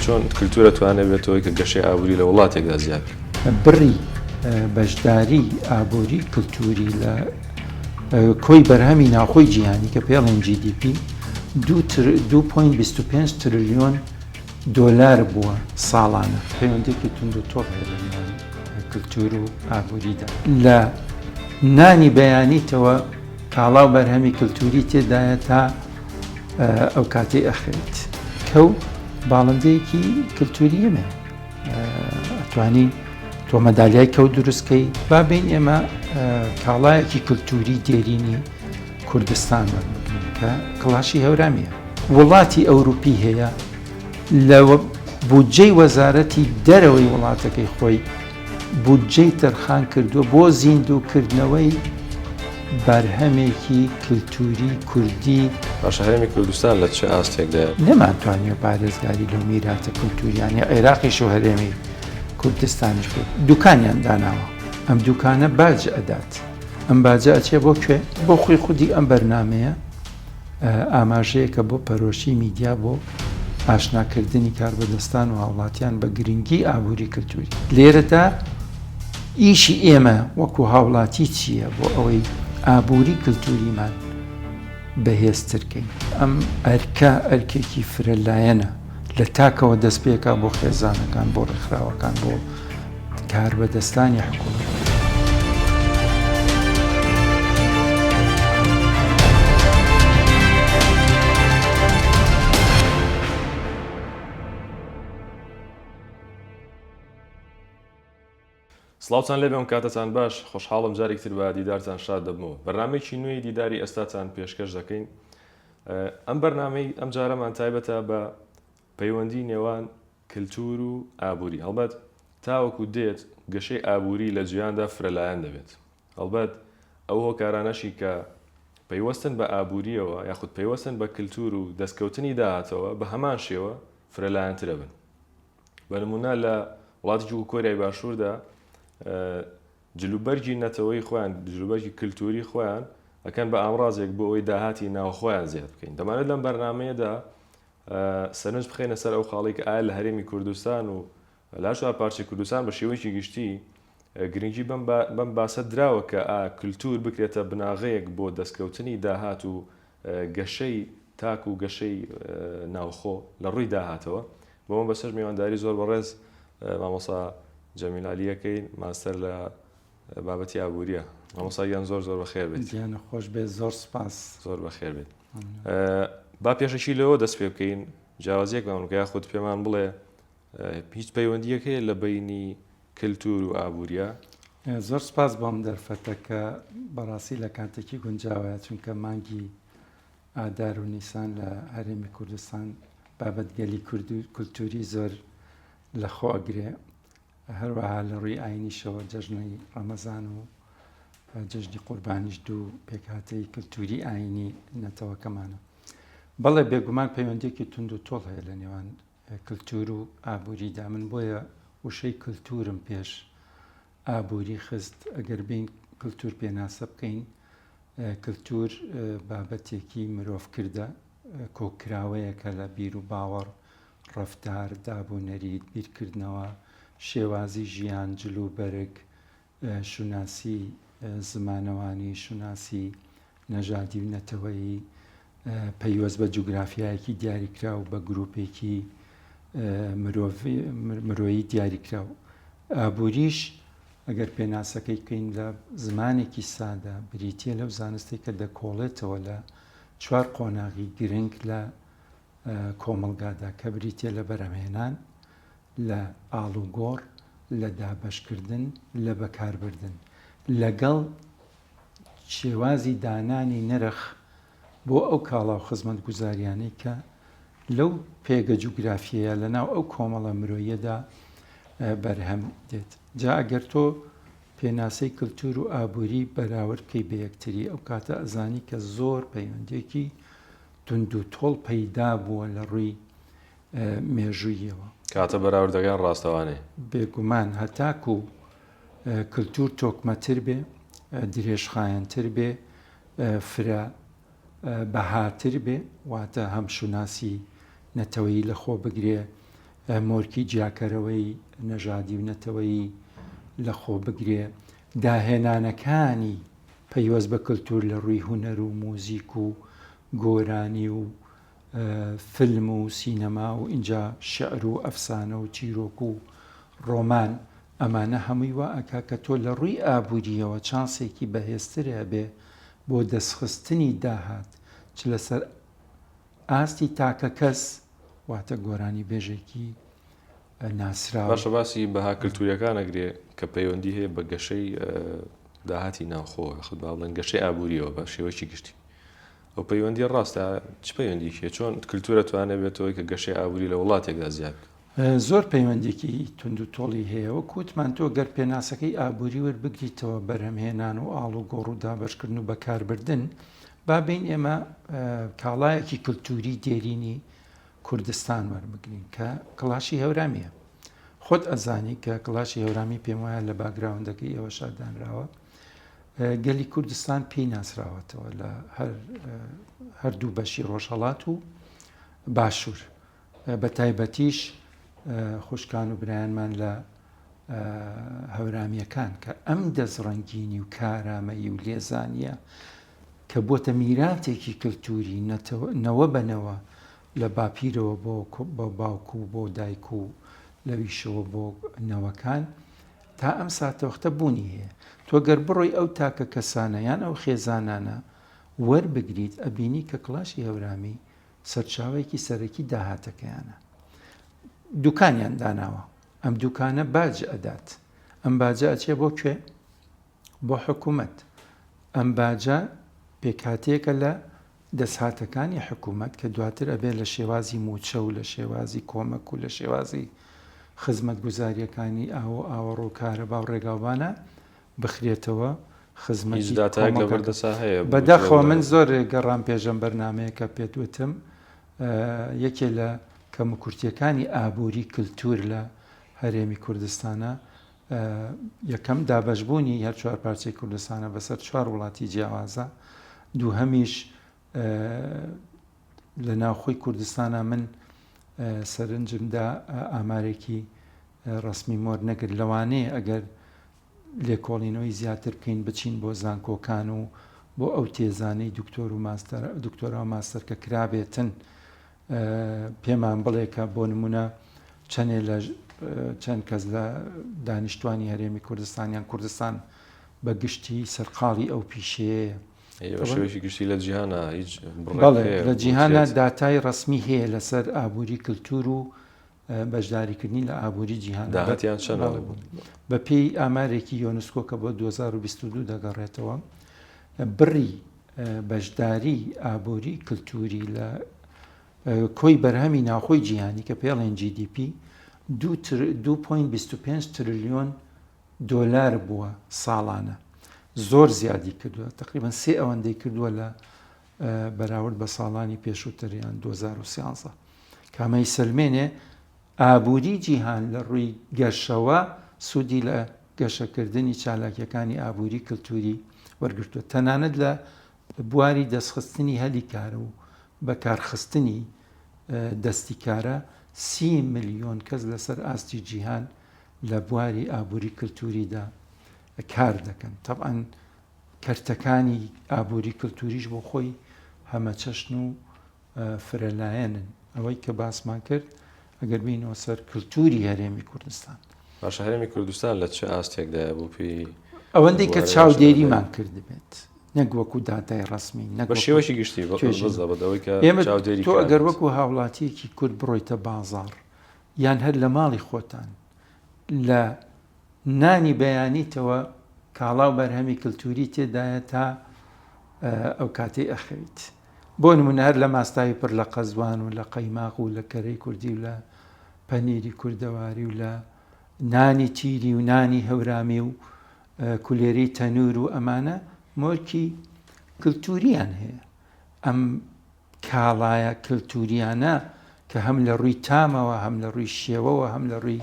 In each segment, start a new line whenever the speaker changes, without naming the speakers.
چۆن کللتورە توانێت بێتەوەی کە گەشەی ئابووری لە وڵاتێکدا زیاد بڕی
بەشداری ئابووری کللتوری لە کۆی بەرهەمی ناوخۆی جیهانی کە پێڵێن GDP 2.25 تریلیۆن دۆلار بووە ساڵانە. پەیوەندیەکی توند و تۆڵ هەیە لە نێوان کلتور و ئابوریدا. لە نانی بەیانیتەوە کاڵا و بەرهەمی کلتوری تێدایە تا ئەو کاتەی ئەخەویت. کەو باڵندەیەکی کلتوریە مێ ئەتوانی تۆ مەدالیای کەو دروستکەی. با بین ئێمە کاڵایەکی کلتوری دێرینی. کوردستان وەربگرین کە کڵاشی هەورامیە. وڵاتی ئەوروپی هەیە لە بودجەی وەزارەتی دەرەوەی وڵاتەکەی خۆی بودجەی تەرخان کردووە بۆ زیندوو کردنەوەی بەرهەمێکی کلتوری کوردی باش هەرێمی
کوردستان لە چ ئاستێکدا نەمانتوانیوە
پارێزگاری لەو میراتە کلتوریانی عێراقیش و هەرێمی کوردستانیش بێت دوکانیان داناوە ئەم دوکانە باج ئەدات. ئەم باجە ئەچێ بۆ کوێ؟ بۆ خۆی خودی ئەم بەرنامەیە ئاماژەیەکە بۆ پەرۆشی میدیا بۆ ئاشناکردنی کاربەدەستان و هاوڵاتیان بە گرنگی ئابووری کللتوری لێرەدا ئیشی ئێمە وەکو هاوڵاتی چییە بۆ ئەوەی ئابووری کللتوریمان بەهێزترکەین ئەم ئەرکە ئەرکێکی فرە لایەنە لە تاکەوە دەست پێکا بۆ خێزانەکان بۆ ڕێکخراوەکان بۆ کاربەدەستانی حکوومەت.
سڵاوتان لێ بێم کاتتان باش خۆشحاڵم جارێکی تر بە دیدارتان شاد دەبمەوە بەرنمێکی نوێی دیداری ئێستاتان پێشکەش دەکەین ئەم بەرنمەی ئەم جارەمان تایبەتە بە پەیوەندی نێوان کللتور و ئابووری هەڵبەت تاوەکو دێت گەشەی ئابووری لە جیاندا فرەلایەن دەبێت هەڵبەت ئەو هۆکارانەشی کە پەیوەستن بە ئابووریەوە یاخود پەیوەستن بە کللتور و دەستکەوتنی داهاتەوە بە هەمان شێوە فرەلایەنترەبن بە نموونە لە وڵاتێکی وەکو کۆریای باشووردا جلوبەرگی نەتەوەی خۆیان جلوبەرگی کللتوری خۆیان ئەکەن بە ئامرازێک بۆ ئەوی داهاتی ناوخۆیان زیاد بکەین دەمانێت لەم بەرنمەیەدا سەرنج بخێنە سەر ئەو خاڵێک ئایا لە هەرێمی کوردستان و لاشوار پارچی کوردستان بە شێوەیەکی گشتی گرنگی بەم باسە دراوە کە کللتور بکرێتە بناغەیەک بۆ دەستکەوتنی داهات و گەشەی تاک و گەشەی ناوخۆ لە ڕووی داهاتەوە بۆ مەبەستەش میوانداری زۆر بەڕێز مامۆسا جەمیل عەلیەکەی ماستەر لە بابەتی ئابووریە مامۆساگیان زۆر زۆر بەخێر بێت گیانە خۆش بێت زۆر
سپاس زۆر بەخێر بێت
با پێشەکی لەوە دەست پێ بکەین جیاوازیەکمان بکە خودت پێمان بڵێ هیچ پەیوەندیەک هەیە لە بەینی کەلتور و ئابوریا؟ زۆر سپاس
بۆم دەرفەتە کە بەڕاستی لە کاتێکی گونجاوەیە چونکە مانگی ئادار و نیسان لە هەرێمی کوردستان بابەت گەلی کورد و کولتوری زۆر لە خۆ ئەگرێ هەروەها لە ڕووی ئاینیشەوە جەژنەی ڕەمەزان و جژنی قوربانیش دوو پێکهاتەی کللتوری ئاینی نەتەوەکەمانە بەڵێ بێگومان پەیوەندێکی تونند و تۆڵ هەیە لە نێوان کلتور و ئابوریدا من بۆیە وشەی کلتورم پێش ئابوری خست ئەگەر بین کلتور پێناسە بکەین کلتور بابەتێکی مرۆڤ کردە کۆکراوەیەکە لە بیر و باوەڕ ڕفتار دابونەریت بیرکردنەوە شێوازی ژیان جلو بەرگ شوناسی زمانەوانی، شوناسی نەژادی و نەتەوەیی، پەیوەست بە جوگرافیایەکی دیاریکراو، بە گروپێکی مرۆیی دیاریکراو. ئابووریش ئەگەر پێناسەکەی بکەین لە زمانێکی سادە، بریتییە لەو زانستەی کە دەکۆڵێتەوە لە چوار قۆناغی گرنگ لە کۆمەڵگادا کە بریتیە لە بەرهەمهێنان، لە ئاڵوگۆڕ، لە دابەشکردن، لە بەکاربردن، لەگەڵ شێوازی دانانی نرخ بۆ ئەو کاڵا و خزمەتگوزاریانەی کە لەو پێگە جوگرافیەیە لە ناو ئەو کۆمەڵە مرۆیەدا بەرهەم دێت جا ئەگەر تۆ پێناسەی کللتور و ئابووری بەراورد بکەی بە یەکتری ئەو کاتە ئەزانی کە زۆر پەیوەندێکی توندو تۆڵ پەیدا بووە لە ڕووی مێژووییەوە. کاتە
بەراوردەکان ڕاستەوانەی. بێگومان
هەتاکو کلتور تۆکمە تر بێ، درێژخایەن تر بێ، فرە بەها تر بێ، واتە هەم شوناسی نەتەوەیی لە خۆ بگرێ، مۆرکی جیاکەرەوەی نەژادی و نەتەوەیی لە خۆ بگرێ، داهێنانەکانی پەیوەست بە کلتور لە ڕووی هونەر و موزیک و گۆرانی و فیلم و سینەما و ئینجا شیعر و ئەفسانە و چیرۆک و ڕۆمان ئەمانە هەمووی وا ئەکا کە تۆ لە ڕووی ئابوورییەوە چانسێکی بەهێزتر هەبێ بۆ دەستخستنی داهات چ لەسەر ئاستی تاکەکەس واتە گۆرانیبێژێکی ناسراو. باشە باسی
بەها کلتوریەکان ئەگرێ کە پەیوەندی هەیە بە گەشەی داهاتی ناوخۆ یاخود با بڵێن گەشەی ئابووریەوە بە شێوەیەکی گشتی ئەو پەیوەندی ڕاستە چ پەیوەندیکی هەیە چۆن کلتورە توانێت بێتەوەی کە گەشەی ئابووری لە وڵاتێکدا زیاد بکات زۆر
پەیوەندێکی توند و تۆڵی هەیە وەک وتمان تۆ گەر پێناسەکەی ئابووری وەربگریتەوە بەرهەمهێنان و ئاڵوگۆڕ و دابەشکردن و بەکاربردن با بین ئێمە کاڵایەکی کلتوری دێرینی کوردستان وەربگرین کە کڵاشی هەورامیە خۆت ئەزانی کە کڵاشی هەورامی پێم وایە لە باگراوندەکە ئێوە شادانراوە گەلی کوردستان پێی ناسراوەتەوە لە هەردوو بەشی ڕۆژهڵات و باشوور بە تایبەتیش خوشکان و برایانمان لە هەورامیەکان کە ئەم دەست ڕەنگینی و کارامەیی و لێزانە کە بۆتە میراتێکی کلتوری نەوە بە نەوە لە باپیرەوە بۆ باوک و بۆ دایک و لەویشەوە بۆ نەوەکان تا ئەم ساتەوەختە بوونی هەیە تۆ گەر بڕۆی ئەو تاکە کەسانە یان ئەو خێزانانە وەربگریت ئەبینی کە کڵاشی هەورامی سەرچاوەیەکی سەرەکی داهاتەکەیانە دوکانیان داناوە ئەم دوکانە باج ئەدات ئەم باجە ئەچێ بۆ کوێ بۆ حکومەت، ئەم باجە پێکهاتەیەکە لە دەسهاتەکانی حکومەت کە دواتر ئەبێت لە شێوازی مووچە و لە شێوازی کۆمەک و لە شێوازی خزمەتگوزارییەکانی ئاو و ئاوەڕۆ و کارەبا و ڕێگاوبانە بخرێتەوە خزمەتی کۆمەڵگە. بەداخەوە من زۆر گەڕام پێش ئەم بەرنامەیە کە پێت وتم یەکێ لە کەموکورتییەکانی ئابووری کلتوور لە هەرێمی کوردستانە، یەکەم، دابەشبوونی هەر چوار پارچەی کوردستانە بەسەر چوار وڵاتی جیاوازە، دووهەمیش لە ناوخۆی کوردستانە من سەرنجمدا ئامارێکی ڕسمی مۆر نەگر لەوانەیە ئەگەر لێکۆڵینەوەی زیاتر بکەین بچین بۆ زانکۆکان و بۆ ئەو تێزانەی دکتۆر و دکتۆرا و ماستەر کە کرابێتن پێمان بڵێ کە بۆ نمونە چەنێ لە چەند کەس لە دانیشتوانی هەرێمی کوردستانیان کوردستان بە گشتی سەرقاڵی ئەو پیشەیە شوێکی
گشتی لە جیهانە هیچ
لە جیهانە داتای ڕسمی هەیە لەسەر ئابووری کللتور و بەشداریکردنی لە ئابووری جیهان داهاتیان چەند
بوو بە پێی
ئامارێکی یۆنسکۆ کە بۆ 2022 دەگەڕێتەوە بڕی بەشداری ئابووری کللتوری لە کۆی بەرهەمی ناوخۆی جیهانی کە پێڵێن GDP 2.25 تریلیۆن دۆلار بووە ساڵانە زۆر زیادی کردووە تقریبان سێ ئەوەندەی کردووە لە بەراورد بە ساڵانی پێشووتر یان دوو هەزار و سیانزە کە ئەمە ئیسەلمێنێ ئابووری جیهان لە ڕووی گەشەوە سوودی لە گەشەکردنی چالاکییەکانی ئابووری کلتووری وەرگرتووە تەنانەت لە بواری دەستخستنی هەلی کار و بەکارخستنی دەستی کارە سی ملیۆن کەس لەسەر ئاستی جیهان لە بواری ئابووری کلتووریدا کار دەکەن تەبعەن کەرتەکانی ئابووری کلتووریش بۆ خۆی هەمەچەشن و فرەلایەنن. ئەوەی کە باسمان کرد ئەگەر بێینەوە سەر کلتووری هەرێمی کوردستان. باشە هەرێمی
کوردستان لە چ ئاستێکدایە بۆ پێی. ئەوەندەی کە
چاودێریمان کردبێت نەک وەکوو داتای ڕەسمی نەک. بە شێوەیەکی گشتی
بە زەبت ئەوەی کە
چاودێری. تۆ ئەگەر وەکوو هاوڵاتییەکی کورد بڕۆیتە بازاڕ یان هەر لە ماڵی خۆتان لە. نانی بەیانیتەوە کاڵا و بەرهەمی کلتووری تێدایە تا ئەو کاتەی ئەخەویت. بۆ نموونە هەر لە ماستاوی پڕ لە قەزوان و لە قەیماق و لە کەرەی کوردی و لە پەنیری کوردەواری و لە نانی تیری و نانی هەورامی و کولێرەی تەنوور و ئەمانە مۆرکی کلتوورییان هەیە. ئەم. کاڵایە کلتوریانە کە هەم لە ڕووی تامەوە هەم لە ڕووی شێوەوە هەم لە ڕووی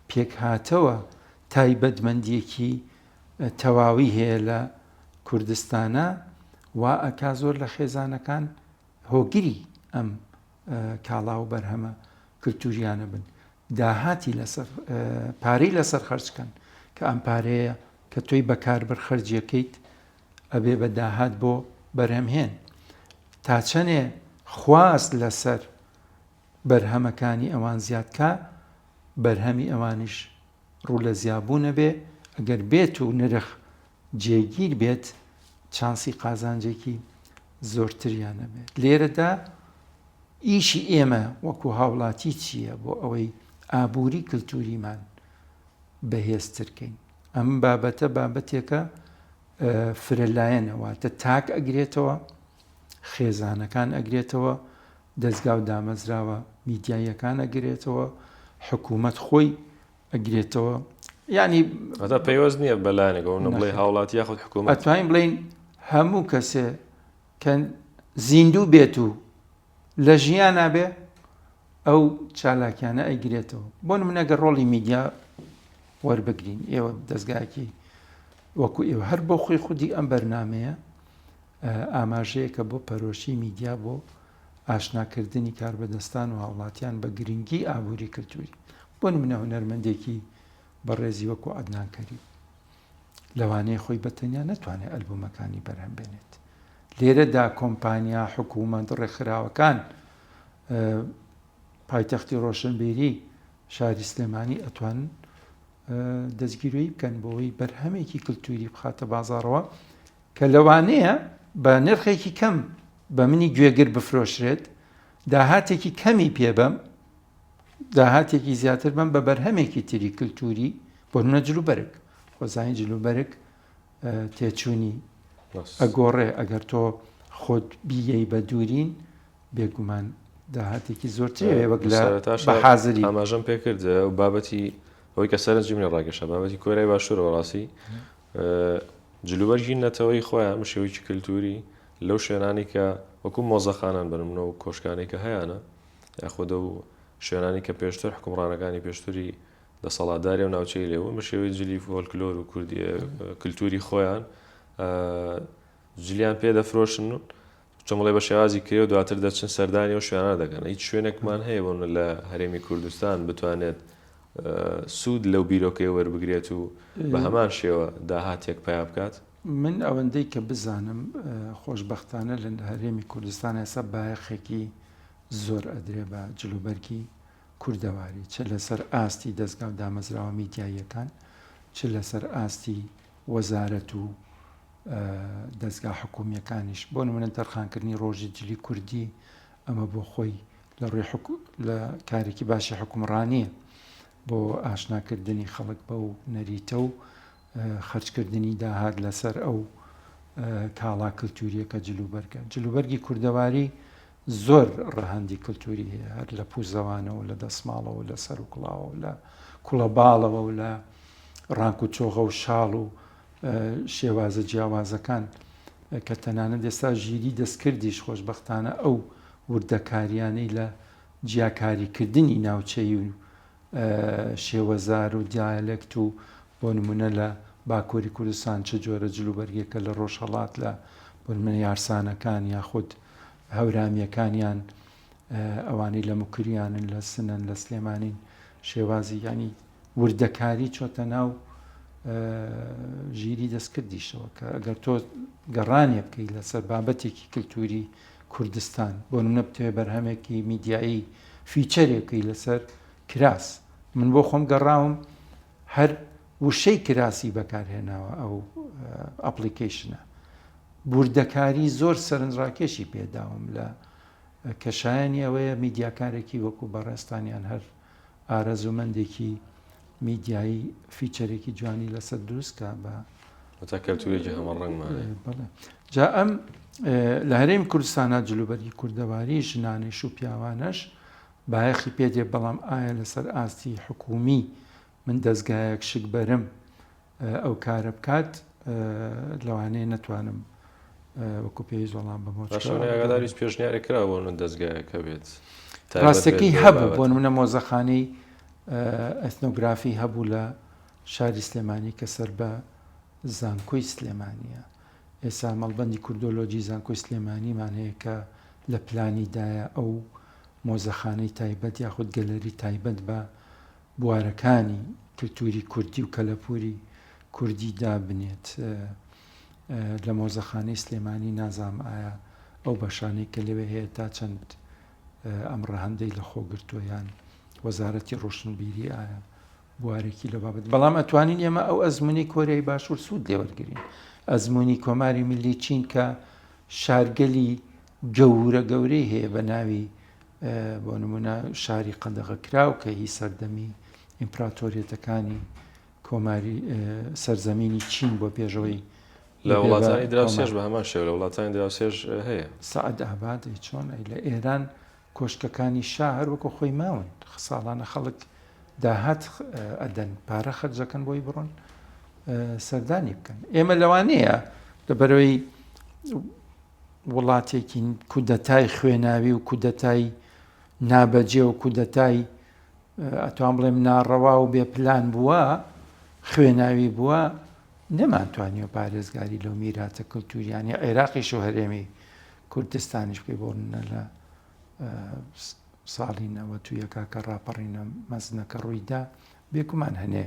پێکهاتەوە تایبەتمەندیەکی تەواوی هەیە لە کوردستانا وا ئەکا زۆر لە خێزانەکان هۆگری ئەم کاڵا و بەرهەمە کلتوریانە بن داهاتی لەسەر پارەی لەسەر خەرج کەن کە ئەم پارەیە کە تۆی بەکاربەر خەرجیەکەیت ئەبێ بە داهات بۆ بەرهەمهێن تا چەنێ خواست لەسەر بەرهەمەکانی ئەوان زیاد کا بەرهەمی ئەوانیش ڕوو لە زیابوون ئەبێ ئەگەر بێت و نرخ جێگیر بێت چانسی قازانجێکی زۆرتریان ئەبێت لێرەدا ئیشی ئێمە وەکو هاوڵاتی چییە بۆ ئەوەی ئابووری کللتوریمان بەهێزترکەین ئەم بابەتە بابەتێکە فرە لایەنە واتە تاک ئەگرێتەوە خێزانەکان ئەگرێتەوە دەستگا و دامەزراوە میدیاییەکان ئەگرێتەوە حکوومەت خۆی ئەگرێتەوە ینی هەتا پەیوەست نییە
بەلایەنەکە بڵێ هاوڵاتی یاخود حکوومەت توانین بڵین
هەموو کەسێ کە زیندوو بێت و لە ژیانا بێ ئەو چالاکیانە ئەیگرێتەوە بۆ منەگە ڕۆڵی میدیا وەربگرین ئێوە دەستگاکی وەکو ئێوە هەر بۆ خۆی خودی ئەم بەرنمەیە ئاماژەیە کە بۆ پەرۆشی میدیا بۆ ئاشناکردنی کاربەدەستان و هاوڵاتیان بە گرنگی ئابووری کللتوری بۆ منە هونەرمەندێکی بەڕێزی وەکو عدنانکەری لەوانەیە خۆی بەتەنیا نەتوانێت ئەلبومەکانی بەرهەم بێنێت لێرەدا کۆمپانیا، حکوومەت، ڕێکخراوەکان، پایتەختی ڕۆشنبیری شاری سلێمانی ئەتوان دەستگیرۆیی بکەن بۆەوەی بەرهەمێکی کللتوری بخاتە بازارەوە کە لەوانەیە بە نرخێکی کەم بە منی گوێگر بفرۆشرێت داهاتێکی کەمی پێبەم داهاتێکی زیاتر بم بە بەرهەمێکی تری کللتوری بۆ نەجلوبەرگ خۆزانانی جلوبەرگ تێچوونی ئەگۆڕێ ئەگەر تۆ خۆت بییەی بە دوورین بێگومان داهاتێکی زۆرترێ وەک لە حازری ئاماژەم پێکرد
و بابەتی ئەوەی کە سەرنجی منە ڕاگەشە بابەتی کۆرای باشوورەوە ڕاستی جلوبەرگی نەتەوەی خۆیان مشێوکی کللتوری لەو شوێنانی کە وەکو مۆزەخانان بنمنەوە و کۆشکانی کە هەیەە یاخۆدە و شوێنانی کە پێشتر حکومڕانەکانی پێشتری دەسەڵاتداری ئەو ناوچەی لێ بوون بە شێوەی جلی فۆلکلۆر و کوردی کللتوری خۆیان جلیان پێ دەفرۆشن و چمڵێ بە شێوازی کرێ و دواتر دەچن سەردانی و شوێنە دەکەن هیچ شوێنێکمان هەیە بۆن لە هەرێمی کوردستان بتوانێت سوود لەو بیرۆکەی وەربگرێت و بە هەمان شێوە داهاتێک پیا بکات من ئەوەندەی
کە بزانم خۆشببختانە لە هەرێمی کوردستان ئێستا بایەخێکی زۆر ئەدرێ بە جلوبەرگی کوردەواری، چ لەسەر ئاستی دەزگا و دامەزراوە میدیاییەکان، چ لەسەر ئاستی وەزارەت و دەزگا حکوومییەکانیش، بۆ نموونە تەرخانکردنی ڕۆژی جلی کوردی، ئەمە بۆ خۆی لە ڕووی کارێکی باشی حوکمڕانییە بۆ ئاشناکردنی خەڵک بەو نەریتە و خەرجکردنی داهات لەسەر ئەو کاڵا کلتوریە کە جلوبەرگە. جلوبەرگی کوردەواری زۆر ڕەهەندی کلتوری هەیە، هەر لە پوزەوانەوە، لە دەسماڵەوە، لە سەروکڵاوەوە، لە کوڵەباڵەوە و لە ڕانک و چۆغە و شاڵ و شێوازە جیاوازەکان کە تەنانەت ئێستا ژیری دەستکردیش خۆشبەختانە ئەو وردەکاریانەی لە جیاکاریکردنی ناوچەیی و شێوەزار و دیالێکت و بۆ نموونە لە باکووری کوردستان چ جۆرە جلوبەرگێکە لە ڕۆژهەڵات لە بۆ نموونە یارسانەکان یاخود هەورامییەکان یان ئەوانەی لە موکریانن لە سنەن لە سلێمانین شێوازی یانی وردەکاری چۆتە ناو ژیری دەستکردیشەوە کە ئەگەر تۆ گەڕانێ بکەیت لەسەر بابەتێکی کللتوری کوردستان، بۆ نمونە بتەوێ بەرهەمێکی میدیایی فیچەرێ بکەی لەسەر کراس، من بۆ خۆم گەڕاوم هەر وشەی کراسی بەکارهێناوە ئەو ئەپڵیکەیشنە، وردەکاری زۆر سەرنجڕاکێشی پێداوم لە کەشایەنی ئەوەیە میدیاکارێکی وەکو بەڕێزتان یان هەر ئارەزوومەندێکی میدیایی فیچەرێکی جوانی لەسەر دروست کا بە هەتا کەلتورێکی
هەمەڕەنگمانێ بەڵێ جا
ئەم لە هەرێم کوردستانە جلوبەرگی کوردەواری ژنانش و پیاوانەش بایەخی پێدێ بەڵام ئایا لەسەر ئاستی حکومی من دەستگایەک شک بەرم ئەو کارە بکات لەوانەیە نەتوانم وەکو پێویست وەڵام بەمەوە باشانەی ئاگاداریت
پێشنیاری کرا بۆ نە دەستگایەکە بێت ڕاستەکەی
هەبوو بۆ منە مۆزەخانەی ئەتنۆگرافی هەبوو لە شاری سلێمانی کە سەر بە زانکۆی سلێمانە ئێسا مەڵبندی کوردۆلۆجی زانکۆی سلێمانیمان هەیە کە لە پلانیدایە ئەو مۆزەخانەی تایبەت یاخود گەلەری تایبەت بە بوارەکانی کلتوری کوردی و کەلەپوری کوردی دابنێت لە مۆزەخانەی سلێمانی نازانم ئایا ئەو بەشانەی کە لەوێ هەیە تا چەند ئەم ڕەهەندەی لە خۆ گرتووە یان وەزارەتی ڕۆشنبیری ئایا بوارێکی لە بابەت بەڵام ئەتوانین ئێمە ئەو ئەزمموی کۆریای باشوور سوود لێوەرگین ئەزمموی کۆماری ملی چین کە شارگەلی گەورە گەورەی هەیە بە ناوی بۆ نمونە شاری قەدەغەکراو کە هی سەردەمی ئیمپراتۆریەتەکانی کۆماری سەرزەمینی چین بۆ پێشەوەی لە وڵاتانی
دراوسێش بە هەمان شێو لە وڵاتانی دراوسێش هەیە سعد ئاباد
چۆن لە ئێران کۆشکەکانی شا هەروەکو خۆی ماون ساڵانە خەڵک داهات ئەدەن پارە خەرجەکەن بۆی بڕۆن سەردانی بکەن ئێمە لەوانەیە لە بەرەوەی وڵاتێکی کودەتای خوێناوی و کودەتای نابەجێ و کودەتای ئەتوان بڵێم ناڕەوا و بێ پلان بووە خوێناوی بووە نەمانتوانی و پارێزگاری لەو میراتە کللتوریانی عێراقیش و هەرێمی کوردستانیش پێ بۆ منە لە ساڵی نەوە تو یەکا کە ڕاپەڕینە مەزنەکە ڕوویدا بێکومان هەنێ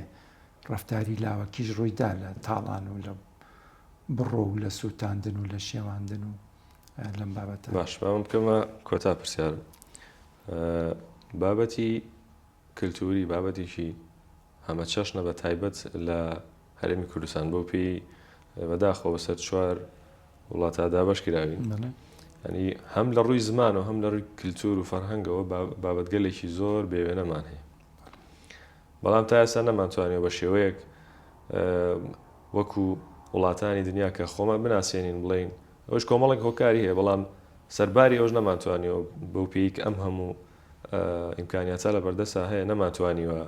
ڕفتاری لاوەکیش ڕوویدا لە تاڵان و لە بڕۆ و لە سووتاندن و لە شێواندن و لەم بابەتە باش باوم بکەمە
کۆتا پرسیارم بابەتی کللتوری بابەتێکی ئەمە چەشنە بە تایبەت لە هەرێمی کوردستان بۆ پێی بەداخۆ بەسەر چوار وڵاتا دابش کراوین ینی هەم لە ڕووی زمان و هەم لە ڕووی کللتور و فەرهەنگەوە بابەتگەلێکی زۆر بێوێنەمان هەیە بەڵام تا ئێستا نەمانتوانیوە بە شێوەیەک وەکو وڵاتانی دنیا کە خۆمان بناسێنین بڵێین ئەوش کۆمەڵێک هۆکاری هەیە بەڵام سەرباری ئەوش نەمانتوانیوە بەو پێی کە ئەم هەموو ئیمکانیاتە لە بەردەسا هەیە نەمانتوانیوە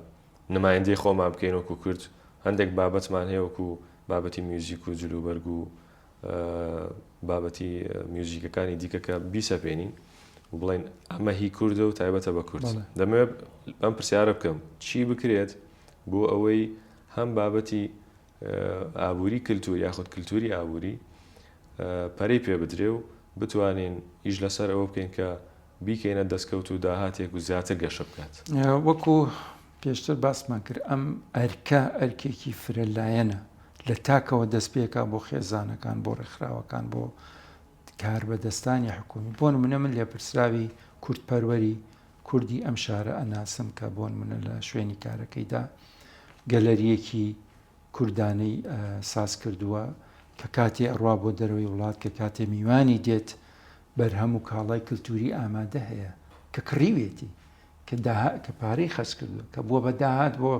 نمایندەی خۆمان بکەین وەکو کورد هەندێک بابەتمان هەیە وەکو بابەتی میوزیک و جلوبەرگ و بابەتی میوزیکەکانی دیکە کە بیسەپێنین و بڵێن ئەمە هی کوردە و تایبەتە بە کورد دەمەوێت ئەم پرسیارە بکەم چی بکرێت بۆ ئەوەی هەم بابەتی ئابووری کللتور یاخود کللتوری ئابووری پەری پێ بدرێ و بتوانین ئیش لەسەر ئەوە بکەین کە بیکەینە دەستکەوت و داهاتێک و زیاتر گەشە بکات وەکو
پێشتر باسمان کرد ئەم ئەرکە ئەرکێکی فرە لایەنە لە تاکەوە دەست پێکا بۆ خێزانەکان بۆ ڕێکخراوەکان بۆ کاربەدەستانی حکومی بۆن منە من لێپرسراوی کورد پەروەری کوردی ئەم شارە ئەناسم کە بۆن منە لە شوێنی کارەکەیدا گەلەریەکی کوردانەی ساز کردووە کە کاتێ ئەڕوا بۆ دەرەوەی وڵات کە کاتێ میوانی دێت بەرهەم و کاڵای کللتوری ئامادە هەیە کە کڕیوێتی کە داهات کە پارەی خەرج کردووە کە بووە بە داهات بۆ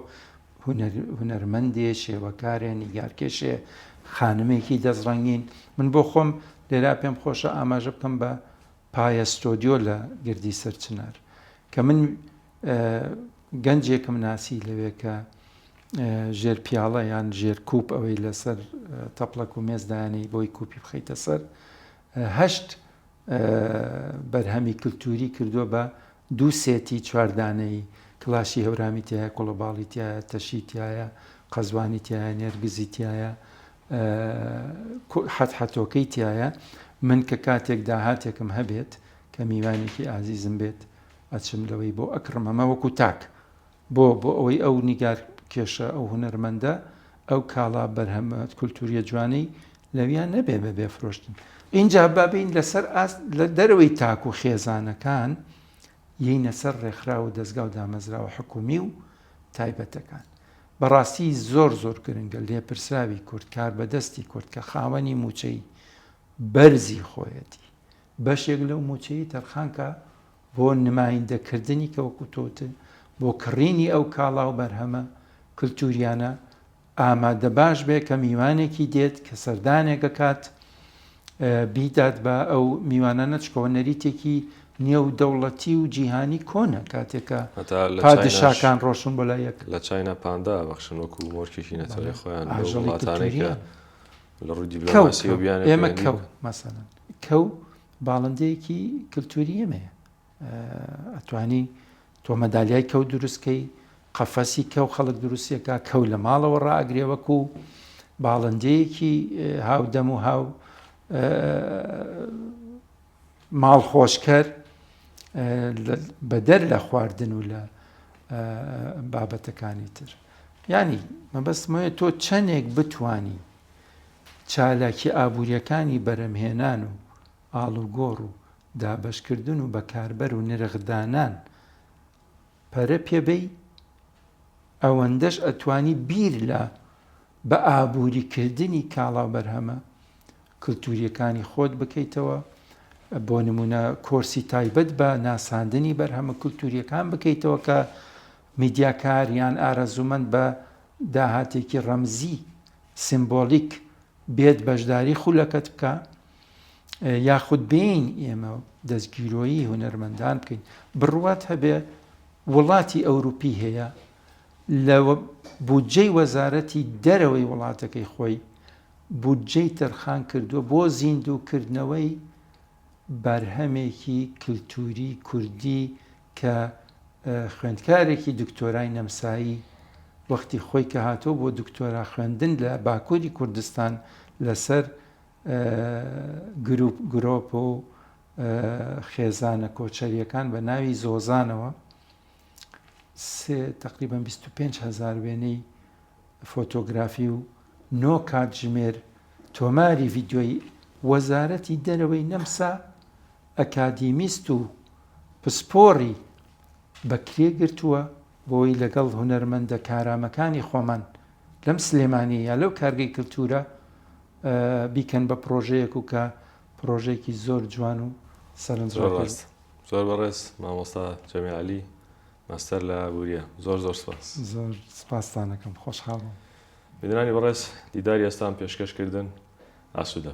هونەرمەندێ شێوەکارێ نیگارکێشێ خانمێکی دەست ڕەنگین من بۆ خۆم لێرا پێم خۆشە ئاماژە بکەم بە پایە ستۆدیۆ لە گردی سەرچنار کە من گەنجێکم ناسی لەوێ کە ژێر پیاڵە یان ژێر کوپ ئەوەی لەسەر تەپڵەک و مێزدانی بۆی کوپی بخیتە سەر هەشت بەرهەمی کلتووری کردووە بە دوو سێتی چوار دانەیی، کڵاشی هەورامی تیایە، کوڵەباڵی تیایە، تەشی تیایە، قەزوانی تیایە، نێرگزی تیایە، حەتحەتۆکەی تیایە. من کە کاتێک داهاتێکم هەبێت کە میوانێکی ئازیزم بێت، ئەچم لەوەی بۆ ئەکڕم، ئەمە وەکوو تاک. بۆ؟ بۆ ئەوەی ئەو نیگارکێشە، ئەو هونەرمەندە، ئەو کاڵا بەرهەمە کولتوورییە جوانەی لەویا نەبێ بە بێ فرۆشتن. ئینجا با بێین لەسەر ئاست، لە دەرەوەی تاک و خێزانەکان، یەینە سەر ڕێکخراو و دەزگا و دامەزراوە حکوومی و تایبەتەکان. بە ڕاستی زۆر زۆر گرنگە لێپرسراوی کورد، کاربەدەستی کورد کە خاوەنی مووچەی بەرزی خۆیەتی، بەشێک لەو مووچەیەی تەرخان کا، بۆ نمایندەکردنی کە وەکو تۆ وتت بۆ کڕینی ئەو کاڵا و بەرهەمە کلتوریانە ئامادە باش بێت کە میوانێکی دێت کە سەردانێک ئەکات بیدات بە ئەو میوانانە چکەوە نەریتێکی نێو دەوڵەتی و جیهانی کۆنە کاتێکە پادشاکان ڕۆشن بۆ لایەک لە چاینا پاندا
بەخشن وەکو مۆرکێکی نەتەوەی خۆیان وڵاتانەی کە لە ڕووی دیبلۆماسیەوە بیانە ئێمە کەو مەسەن
کەو باڵندەیەکی کلتوری ئێمەیە ئەتوانی تۆ مەدالیای کەو دروستکەی قەفەسی کەو خەڵک دروستیەکە کەو لە ماڵەوە ڕاگرێ وەکو باڵندەیەکی هاودەم و هاو ماڵ خۆشکەر بەدەر لە خواردن و لە بابەتەکانی تر ینی مەبەستمەیە تۆ چەندێک بتانی چالاکی ئابوورییەکانی بەرهەمهێنان و ئاڵوگۆڕ و دابەشکردن و بەکاربەر و نرخدانان پەرە پێ بەی، ئەوەندەش ئەتوانی بیر لە بە ئابووریکردنی کاڵا و بەرهەمە کلتوورییەکانی خۆت بکەیتەوە، بۆ نموونە کۆرسی تایبەت بە ناساندنی بەرهەمە کلتوورییەکان بکەیتەوە کە میدیاکار یان ئارەزوومەند بە داهاتێکی ڕەمزی، سیمبۆلیک، بێت بەشداری خولەکەت بکە یاخود بێین ئێمە دەستگیرۆیی هونەرمەندان بکەین بڕوات هەبێ وڵاتی ئەوروپی هەیە لە بودجەی وەزارەتی دەرەوەی وڵاتەکەی خۆی بودجەی تەرخان کردووە بۆ زیندووکردنەوەی بەرهەمێکی کللتوری کوردی کە خوێندکارێکی دکتۆرای نەمسایی وەختی خۆی کە هاتووە بۆ دکتۆرا خوێندن لە باکووری کوردستان لەسەر گروپ گرۆپ و خێزانە کۆچەریەکان بە ناوی زۆزانەوە تقریبا 25 هزار وێنەی فۆتۆگرافی و نۆ کاتژمێر تۆماری ڤیدیۆیی وەزارەتی دەرەوەی نەمسا ئەکادیمیست و پسپۆڕی بەکرێگرتووە بۆی لەگەڵ هونەرمەندە کارامەکانی خۆمان لەم سلێمانی یا لەو کارگەی کلتورە بیکەن بە پرۆژەیەک و کە پرۆژێکی زۆر جوان و سەرنج زۆر بەڕێز
مامۆستا جەمیعلی ماستەر لە ئابووریە زۆر زۆر سپاس. زۆر سپاستان
ئەکەم خۆشحاڵ بووم. بینەرانی
بەڕێز دیداری ئێستام پێشکەش کردن ئاسوودە.